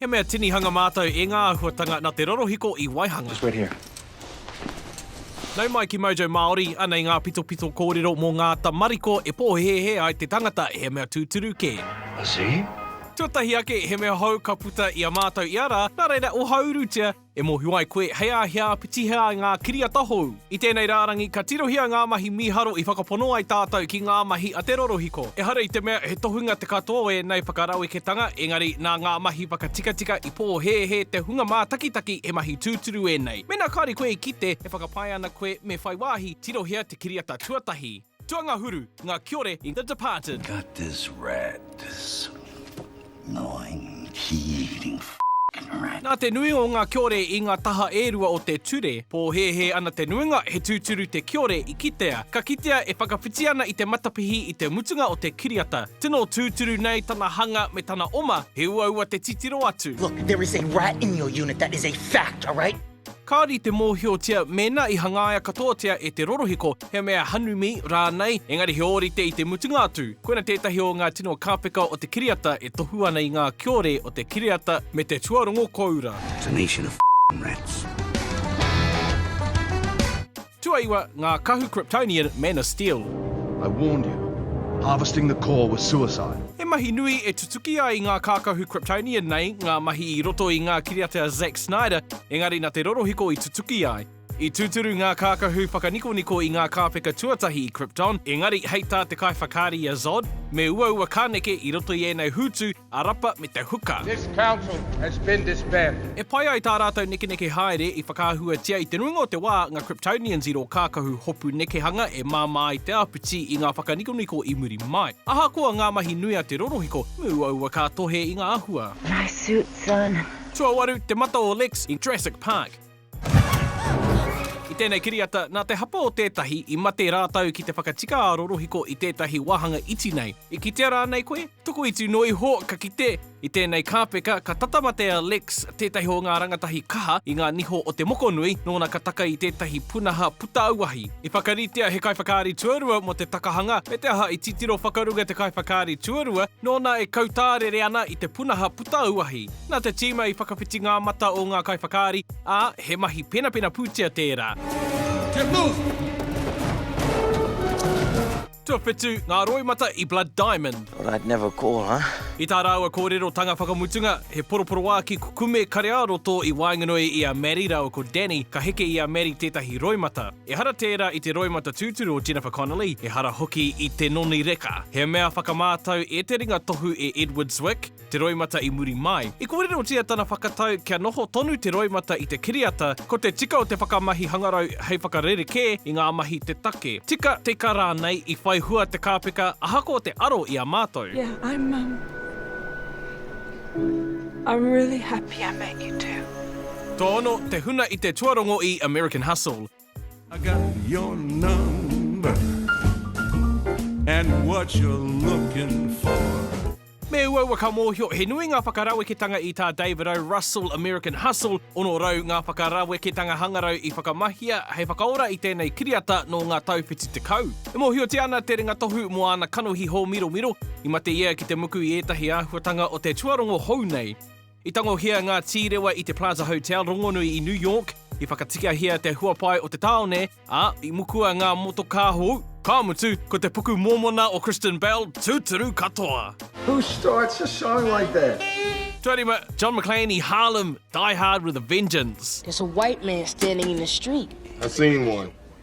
He mea tinihanga mātou e ngā āhuatanga nā te rorohiko i waihanga. Just wait here. Nau mai ki Mojo Māori, anei ngā pitopito kōrero mō ngā tamariko e pōhēhē ai te tangata he mea tūturu kē. I see. Tuatahi ake, he mea hou ka puta i a mātou ia rā, nā reira ohaurutia. E mōhio ai koe, hei a hea, pitihe ai ngā kiriata hou. I tēnei rārangi, ka tirohia ngā mahi mīharo i whakapono ai tātou ki ngā mahi a te rorohiko. Ehara i te mea he tohunga te katoa o ēnei whakaraweketanga, engari nā ngā mahi whakatikatika i pōhēhē te hunga mātakitaki he mahi tūturu ēnei. Mēnā kāore koe i kite, e whakapae ana koe me whai wāhi, tirohia te kiriata tuatahi. Tuangahuru, nga kiore i The Departed. Got this rat, this gnawing, kee-eating f***ing rat. Nā te nui o ngā kiore i ngā taha e rua o te ture, pōhēhē ana te nuinga he tūturu te kiore i kitea. Ka kitea e whakawhiti ana i te matapihi i te mutunga o te kiriata. Tino tūturu nei tana hanga me tana oma, he uaua te titiro atu. Look, there is a rat in your unit, that is a fact, alright? Kāore i te mōhiotia mēnā i hangaia katoatia e te rorohiko he mea hanumi rānei, engari he ōrite i te mutunga atu, koina tētahi o ngā tino kāpeka o te kiriata e tohu ana i ngā kiore o te kiriata me te tuarongo kōura. It's a nation of rats. Tuaiwa, ngā kahu Kryptonian Man of Steel. I warned you. Harvesting the core was suicide. He mahi nui e tutuki ai ngā kākahu Kryptonian nei, ngā mahi i roto i ngā kiriata a Zack Snyder, engari nā te rorohiko i tutuki ai. I tūturu ngā kākahu whakanikoniko i ngā kāpeka tuatahi i Krypton, engari hei tā te kaiwhakaari a Zod, me uaua ka neke i roto i ēnei hūtu, a rapa me te huka. This council has been disbanded. E pai ai tā rātou nekeneke haere i whakaahuatia i te nuinga o te wā ngā Kryptonians i rō kākahu hopu nekehanga e māmā ai te āpiti i ngā whakanikoniko i muri mai. Ahakoa ngā mahi nui a te rorohiko, me uaua ka tohe i ngā āhua. Nice suit, son. Tuawaru, te mata o Lex i Jurassic Park. I tēnei kiriata, nā te hapa o tētahi i mate rātou ki te whakatika ā rorohiko i tētahi wāhanga iti nei. I kitea rānei koe? Tokoiti noa iho ka kite, i tēnei kāpeka ka tata mate a Lex, tētahi o ngā rangatahi kaha i ngā niho o te mokonui, nōna ka taka i tētahi punaha puta auahi. I whakaritea he kaiwhakaari tuarua mō te takahanga, me te aha i titiro whakarunga te kaiwhakaari tuarua, nōna e kautārere ana i te punaha puta auahi. Nā te tīma i whakawhiti ngā mata o ngā kaiwhakaari, ā, he mahi penapena pūtea tērā. Tuawhitu ngā roimata i Blood Diamond. Thought I'd never call, huh? I tā rāua kōrerotanga whakamutunga, he poroporoāki kukume kareāroto i waenganui i a Maddie rāua ko Danny, ka heke i a Maddie tētahi roimata. Ehara tērā i te roimata tūturu o Jennifer Connelly, ehara hoki i te noni reka. He mea whakamātau e te ringa tohu e Edward Zwick, te roimata i muri mai. I kōrerotia tana whakatau kia noho tonu te roimata i te kiriata, ko te tika o te whakamahi hangarau hei whakarerekē i ngā mahi te take. Tika, tika rānei i whai hua te kāpeka ahakoa te aro i a mātou. Yeah I'm um I'm really happy I met you too. Tō ono te huna i te tuarongo i American Hustle. I got your number And what you're looking for Me uaua ka mōhio, he nui ngā whakaraweketanga i tā David O. Russell, American Hustle, 600 ngā whakaraweketanga hangarau i whakamahia hei whakaora i tēnei kiriata nō ngā tau whitu tekau. E mōhiotia ana te ringatohu mō āna kanohi hōmiromiro, i mate ia ki te muku i ētahi āhuatanga o te tuarongo hou nei. I tangohia ngā tīrewa i te Plaza Hotel rongonui i New York, i whakatikahia te huapae o te tāone, ā, i mukua ngā motokā hou, ka mutu, ko te puku mōmona o Kristen Bell tūturu katoa. Who starts a song like that? Tuarima, John McLean i Harlem, Die Hard with a Vengeance. There's a white man standing in the street. I've seen one.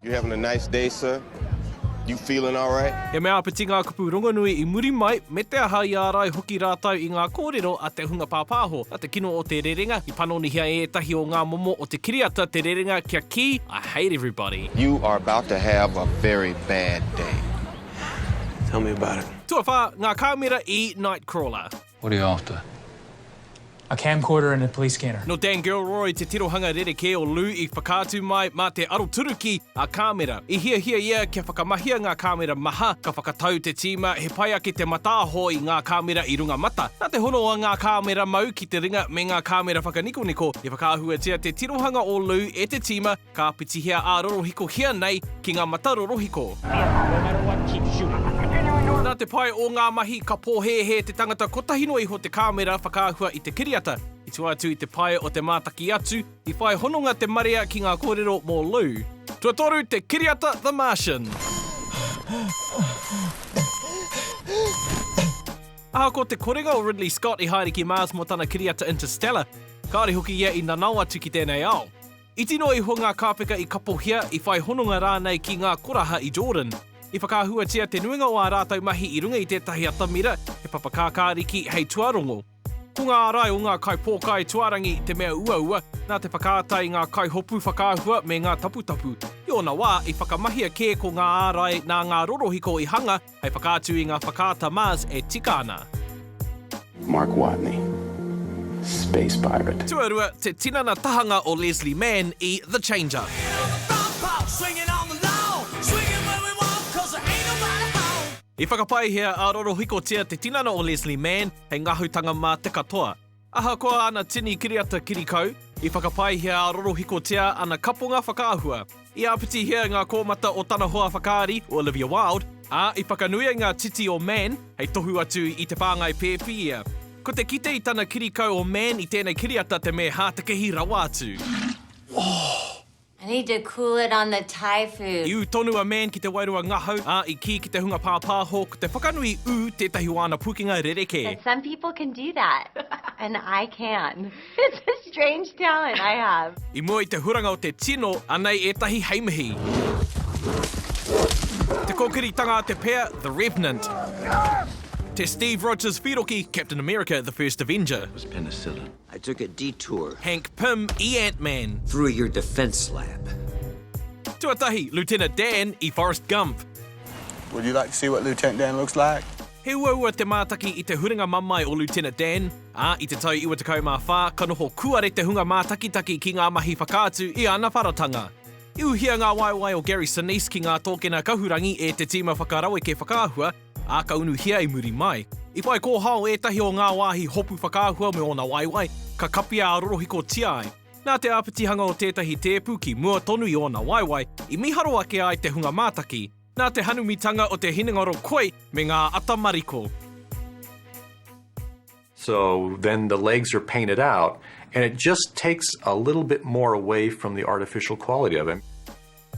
You having a nice day, sir? You feeling all right? He mea āpiti ngā kupu rongonui i muri mai, me te aha i ārai hoki rātou i ngā kōrero a te hunga pāpāho, a te kino o te rerenga, i panonihia e ētahi o ngā momo o te kiriata te rerenga kia kī, I hate everybody. You are about to have a very bad day. Tell me about it. Tuawhā, ngā kāmera i Nightcrawler. What are you after? A camcorder and a police scanner. Nō Dan Gilroy te tirohanga rerekē o Lou i whakaatu mai mā te aroturuki ā-kāmera. I hiahia ia kia whakamahia ngā kāmera maha, ka whakatau te tīma he pai ake te mataaho i ngā kāmera i runga mata. Nā te hono a ngā kāmera mau ki te ringa me ngā kāmera whakanikoniko, i whakaahuatia te tirohanga o Lou e te tīma, Ka pitihia ā rorohikohia nei ki ngā mata rorohiko. Nā te pai o ngā mahi, ka pōhēhē te tangata kotahi noa iho te kāmera whakaahua i te kiriata. I tua atu i te pae o te mātaki atu, i whai hononga te marea ki ngā kōrero mō Lou. Tuatoru te kiriata The Martian. Ahakoa te korenga o Ridley Scott i haere ki Mars mō tana kiriata Interstellar, kāore hoki ia i nanao atu ki tēnei ao. Iti noa iho ngā kāpeka i kapohia, i whai hononga rānei ki ngā koraha i Jordan. I whakaahuatia te nuinga o ā rātou mahi i runga i tētahi atamira, he papa kākāriki hei tuarongo. Ko ngā ārai o ngā kaipōkai tuarangi te mea uaua nā te whakaata i ngā kaihopu whakaahua me ngā taputapu. I ōna wā, i whakamahia kē ko ngā ārai nā ngā rorohiko i hanga, Hei whakaatu i ngā whakaata Mars e tika ana. Mark Watney, space pirate. Tuarua, te tinana tahanga o Leslie Mann i The Change. I whakapaihia a rorohikotia te tinana o Leslie Mann hei ngahutanga mā te katoa. Ahakoa ana tini kiriata kirikau, i whakapaehia rorohikotia ana kaponga whakaahua. I āpitihia ngā kōmata o tana hoa whakaari, o Olivia Wilde, ā, i whakanuia ngā titi o Man hei tohu atu i te whāngai pēpi ia. Ko te kite i tana kirikau o Man i tēnei kiriata te me hātekehi rawa atu. Oh! I need to cool it on the Thai food. I ū tonu a Man ki te wairua ngahau, ā, i kī ki te hunga pāpāho, ko te whakanui i ū tētahi o āna pukenga rerekē. But some people can do that, and I can. It's a strange talent I have. I mua i te huranga o te tino, anei ētahi hei mihi. Te kōkiritanga a te pea, The Revenant. Te Steve Rogers whīroki, Captain America, The First Avenger. It was penicillin. I took a detour. Hank Pym i Ant-Man. Through your defence lab. Tuatahi, Lieutenant Dan i Forrest Gump. Would you like to see what Lieutenant Dan looks like? He uaua te mātaki i te huringa mamae o Lieutenant Dan, ā, i te tau 94 ka noho kuare te hunga mātakitaki ki ngā mahi whakaatu i ana wharatanga. I uhia ngā waewae o Gary Sinise ki ngā tōkena kahurangi e te tīma whakaraweke whakaahua, Ā, ka unuhia i muri mai. I whai kōhao ētahi o ngā wāhi hopu whakaahua me ōna waewae, ka kapia ā-rorohikotia ai. Nā te āpitihanga o tētahi tēpu ki mua tonu i ōna waewae, i miharo ake ai te hunga mātaki. Nā te hanumitanga o te hinengaro koi me ngā ata mariko. So then the legs are painted out and it just takes a little bit more away from the artificial quality of it.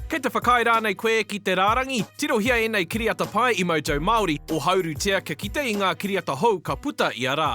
Kei te whakaae rānei koe ki te rārangi? Tirohia ēnei kiriata pai i Mojo Māori, ohaurutia kia kite i ngā kiriata hou ka puta ia rā.